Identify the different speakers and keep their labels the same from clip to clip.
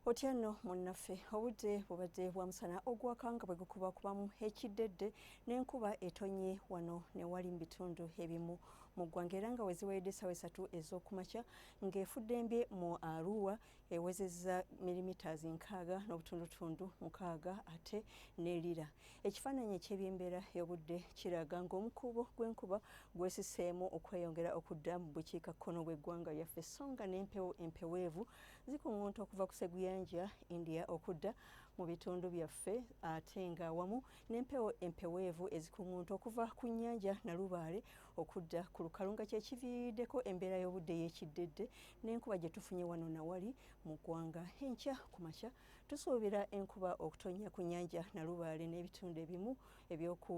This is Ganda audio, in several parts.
Speaker 1: Otya nno munnaffe? Obudde bubadde bwa musana ogwaka nga bwe gukuba kubamu ekiddedde n'enkuba etonnye wano ne wali mu bitundu ebimu mu ggwanga era nga weziwayidde essaawa esatu ez'okumakya ng'efuddembye mu Arua ewezezza milimitaazi nkaaga n'obutundutundu mukaaga ate ne Lira. Ekifaananyi eky'ebyembeera y'obudde kiraga ng'omukuubo gw'enkuba gwesiseemu okweyongera okudda mu bukiikakkono bw'eggwanga lyaffe so nga n'empewo empeweevu zikuŋŋunta okuva ku seguyanja india okudda mu bitundu byaffe ate nga wamu n'empewo empeweevu ezikuŋŋunta okuva ku nnyanja nalubaale okudda ku lukalu nga kyekiviiriddeko embeera y'obudde y'ekiddedde n'enkuba gye tufunye wano nawali mu ggwanga enkya ku makya tusuubira enkuba okutonnya ku nnyanja nalubaale n'ebitundu ebimu ebyoku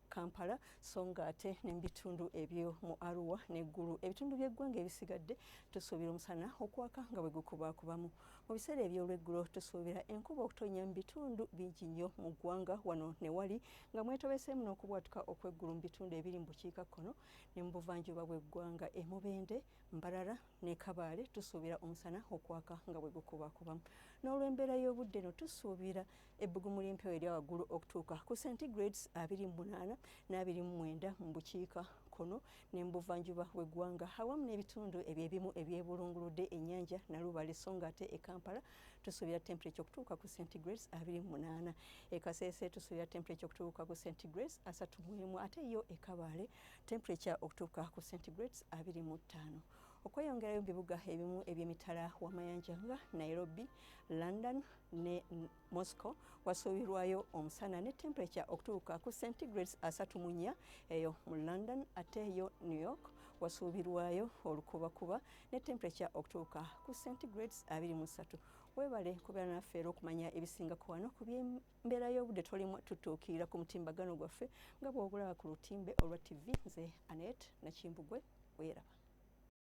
Speaker 1: Kampala so nga ate ne mu bitundu ebyo mu Arua ne Gulu ebitundu by'eggwanga ebisigadde tusuubira omusana okwaka nga bwe gukubaakubamu. Mu biseera eby'olweggulo tusuubira enkuba okutonnya mu bitundu bingi nnyo mu ggwanga wano ne wali nga mwetobeseemu n'okubwatuka okw'eggulu mu bitundu ebiri mu bukiikakkono ne mu buvanjuba bw'eggwanga e Mubende, Mbarara ne Kabale tusuubira omusana okwaka nga bwe gukubaakubamu. N'olw'embeera y'obudde eno tusuubira ebbugumu ly'empewo erya waggulu okutuuka ku centigrades abiri mu munaana n'abiri mu mwenda mu bukiika kkono ne mu buvanjuba bw'eggwanga awamu n'ebitundu ebyebimu ebyebulunguludde ennyanja Nalubaale so ng'ate e Kampala tusuubira temperature okutuuka ku centigrades abiri mu munaana e Kasese tusuubira temperature okutuuka ku centigrades asatu mu emu ate yo e Kabaale temperature okutuuka ku centigrades abiri mu ttaano okweyongerayo mu bibuga ebimu eby'emitala w'amayanja nga Nairobi, London, ne Moscow wasuubirwayo omusana ne temperature okutuuka ku centigrades asatu mu nnya eyo mu London ate eyo New York wasuubirwayo olukubakuba ne temperature okutuuka ku centigrades abiri mu ssatu webale kubeera naffe era okumanya ebisingako wano ku byembeera y'obudde tolimu tutuukirira ku mutimbagano gwaffe nga bw'ogulaba ku lutimbe olwa tv nze anet nakimbugwe weeraba